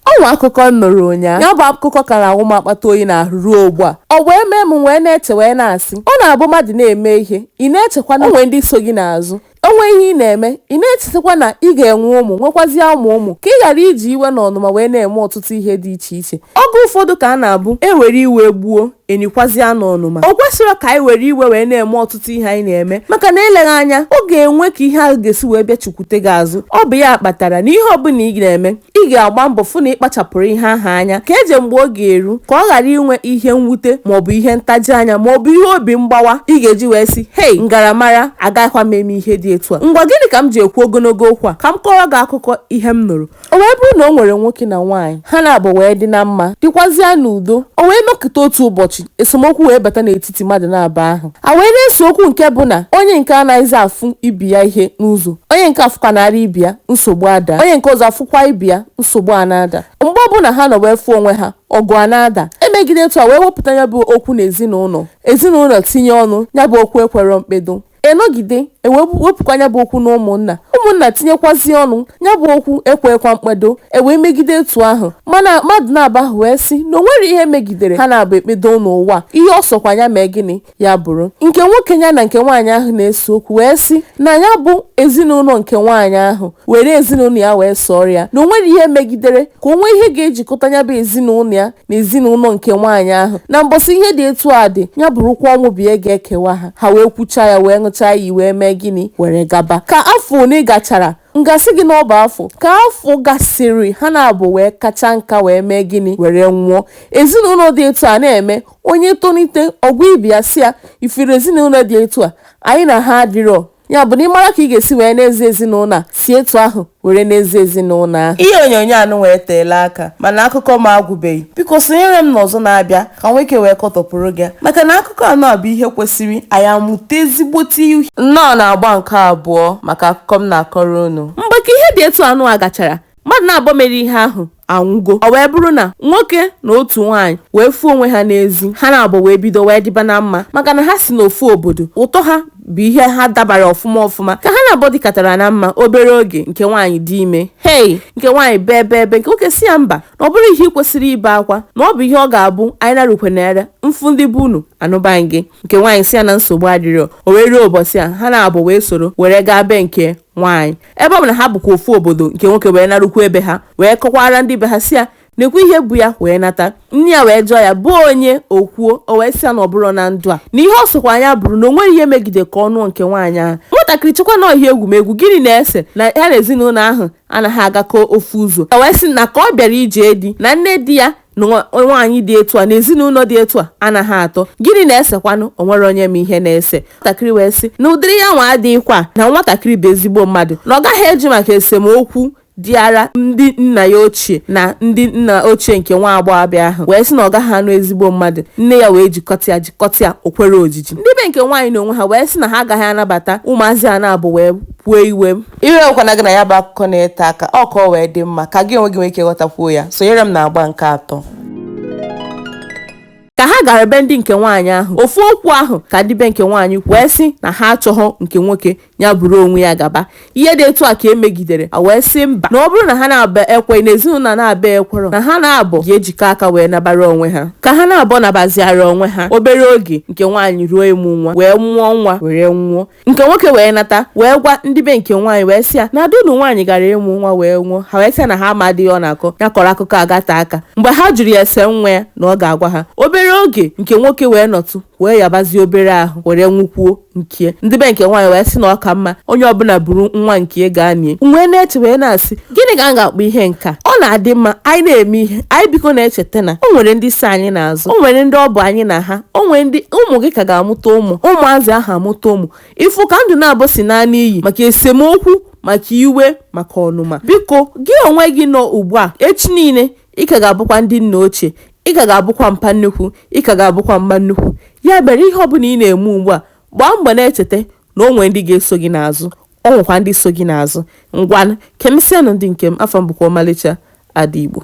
O nwee akụkọ m nụrụ ụnyaa. Ya bụ akụkọ ka na-awụ m akpata oyi n'ahụ ruo ugbu a. Ọ wee mee m m wee na-eche wee na-asị, ọ na-abụ mmadụ na-eme ihe, ị na-echekwa na o nwee ndị so gị n'azụ. O nwee ihe ị na-eme, ị na-echetakwa na ị ga-enwe ụmụ, nwekwazịa ụmụ ụmụ, ka ị ghara iji iwe na ọnụma wee na-eme ọtụtụ ihe dị iche iche. Oge ụfọdụ ka a na-abụ e were iwe gbuo, e nikwazịa n'ọnụma. O kwesịrọ ka anyị were iwe wee na-eme ọtụtụ ihe anyị na-eme maka na eleghị anya, ọ ga-enwe ka ihe ahụ ga-esi wee bịa chukwute gị azụ. Ọ bụ ya kpatara na ihe ọbụla ị na-eme, Ị ga-agba mbọ fụ na ị kpachapụrụ ihe ahụ anya ka eje mgbe ọ ga-eru ka ọ ghara inwe ihe mwute maọbụ ihe ntaji anya maọbụ ihe obi mgbawa ị ga-eji wee sị, Hei! M gara mara, agaghịkwa m eme ihe dị etu a. Ngwa gịnị ka m ji ekwu ogologo okwu a? Ka m kọọrọ gị akụkọ ihe m nụrụ. O wee bụrụ na o nwere nwoke na nwaanyị, ha naabọ wee dị na mma, dịkwazịa n'udo. O wee nọkịta otu ụbọchị, esemokwu wee bata n'etiti n'etiti mmadụ naabọ ahụ. A wee na-ese okwu nke bụ na onye nke a anaghịzi afụ ibe ya ihe n'ụzọ, onye nke a fụkwanarị ibe ya, nsogbu adaa. Onye nke ọzọ afụkwaa ibe ya, nsogbu ana-ada. Mgbe ọbụla ha nọ wee fụ onwe ha, ọgụ ana-ada. E megide etu a wee wepụta ya bụ okwu n'ezinaụlọ, ezinaụlọ tinye ọnụ, ya bụ okwu ekwerọ mkpedo. A nọgide e wee wepụkwa ya bụ okwu na ụmụnna, ụmụnna tinyekwazie ọnụ, ya bụ okwu ekweekwa mkpedo, e wee megide etu ahụ. Mana mmadụ naabọ ahụ wee sị na o nwere ihe megidere ha naabọ ekpedo n'ụwa, ihe ọ sọkwa ya mee gịnị, ya bụrụ. Nke nwoke ya na nke nwaanyị ahụ na-ese okwu wee sị na ya bụ ezinụlọ nke nwaanyị ahụ were ezinụlọ ya wee sọọrọ ya, na o nwere ihe megidere ka o nwee ihe ga-ejikọta ya bụ ezinụlọ ya na ezinụlọ nke nwaanyị ahụ na mbọsị ihe dị etu a dị ya bụrụkwa ọnwụ bụ ihe ga-ekewa ha ha wee kwuchaa ya wee ṅụchaa iyi wee mee gịnị were gaba ka afọ ole gachara m ga-asị gị na ọ bụ afọ ka afọ gasịrị ha naabọ wee kacha nka wee mee gịnị were nwụọ ezinụlọ dị etu a na-eme onye tolite ọ gwa ibe ya sị ya ị fụrụ ezinụlọ dị etu a anyị na ha adịrọ Ya bụ na ị mara ka ị ga-esi wee na-eze ezinụlọ a si etu ahụ were na-eze ezinụlọ ahụ. Ihe onyonyo a nụwa eteela aka mana akụkọ m agwụbeghị. Biko sonyere m n'ọzọ na-abịa ka m nwee ike wee kọtọpụrụ gị ya maka na akụkọ a nụwa bụ ihe kwesịrị anyị amụta ezigbote ihe. Nnọọ n'agba nke abụọ maka akụkọ m na-akọrọ unu. Mgbe ka ihe dị etu a nụwa gachara, mmadụ naabọ mere ihe ahụ anwụgo ọ wee bụrụ na nwoke na otu nwaanyị wee fụ onwe ha n'ezi ha naabọ wee bido wee dịba na mma maka na ha si n'ofu obodo ụtọ ha bụ ihe ha dabara ọfụma ọfụma ka ha naabọ dịkatara na mma obere oge nke nwaanyị dị ime hei nke nwaanyị bee bee bee nke nwoke sị ya mba na ọ bụrọ ihe ị kwesịrị ibe akwa na ọ bụ ihe ọ ga-abụ anyị narukwe na ere m fụ ndị be unu anụba gị nke nwaanyị sị ya na nsogbu adịrọ o wee ruo ụbọchị a ha naabọ wee soro were gaa be nke nwaanyị ebe ọ bụ na ha bụkwa ofu obodo nke nwoke wee narukwuo be ha wee kọkwara ndị be ha si ya na-ekwu ihe bụ ya wee nata nne ya wee jụọ ya ọ bụ onye o kwuo o wee sị ya na ọ bụrụ na ndụ a na ihe ọ sọkwa ya bụrụ na o nweghị ihe megide ka ọ nụọ nke nwaanyị ahụ nwatakịrị chekwa na ọ ihe egwumegwu gịnị na-ese na ya na ezinụlọ ahụ anaghị agakọ ofu ụzọ o wee sị na ka ọ bịara ije di na nne di ya na nwaanyị dị etu a na ezinụlọ dị etu a anaghị atọ gịnị na-esekwanụ o nwere onye ma ihe na-ese nwatakịrị wee sị na ụdịrị ya nwa adịghịkwa na nwatakịrị bụ ezigbo mmadụ na ọ gaghị eji maka esemokwu dịara ndị nna ya ochie na ndị nna ochie nke nwa agbọghọbịa ahụ wee sị na ọ gaghị anụ ezigbo mmadụ nne ya wee jikata ya jikata ya o kwerọ ojiji ndị be nke nwaanyị na onwe ha wee sị na ha agaghị anabata ụmụazị a naabọ wee kwue iwe Ewekwana gị na ya bụ akụkọ na-ete aka, ọ ka o wee dị mma ka gị onwe gị nwee ike ghọtakwuo ya, sonyere m n'agba nke atọ. Ka ha gara be ndị nke nwaanyị ahụ, ofu okwu ahụ ka ndị be nke nwaanyị wee sị na ha achọghọ nke nwoke, ya buru onwe ya gaba. Ihe dị etu a ka e megidere, ha wee sị mba, na ọ bụrụ na ha naabọ ekwe, na ezinụlọ naabọ ekwerọ, na ha naabọ ga-ejikọ aka wee nabara onwe ha. Ka ha naabọ nabaziara onwe ha, obere oge nke nwaanyị ruo ịmụ nwa, wee mụọ nwa were nwụọ. Nke nwoke wee nata, wee gwa ndị be nke nwaanyị wee sị ya na ada unu nwaanyị gara ịmụ nwa wee nwụọ. Ha wee sị ya na ha amaghị ihe ọ na-akọ, ya kọrọ akụkọ a gata aka. Mgbe ha jụrụ ya ese nwa ya na ọ ga-agwa ha. Obere oge, nke nwoke wee nọtụ, wee yabazie obere ahụ, were nwụkwuo nke ya. Ndị be nke nwaanyị wee sị na ọ ka mma onye ọbụla buru nwa nke ya gaa nie. M wee na-eche wee na-asị, gịnị ka a ga-akpọ ihe nke a ọ na-adị mma anyị na-eme ihe anyị biko na-echeta na o nwere ndị so anyị n'azụ o nwere ndị ọ bụ anyị na ha o nwere ndị ụmụ gị ka ga-amụta ụmụ ụmụazị ahụ amụta ụmụ ị fụ ka ndụ naabọ si naa n'iyi maka esemokwu maka iwe maka ọnụma biko gị onwe gị nọ ugbu a echi niile ị ka ga-abụkwa ndị nna ochie ị ka ga-abụkwa mpa nnukwu ị ka ga-abụkwa mma nnukwu ya mere ihe ọ bụla ị na-eme ugbu a gbaa mbọ na-echeta na o nwere ndị ga-eso gị n'azụ o nwekwa ndị so gị n'azụ ngwanụ ka emesianụ ndị nke m afa m bụkwa ọmalịcha ada igbo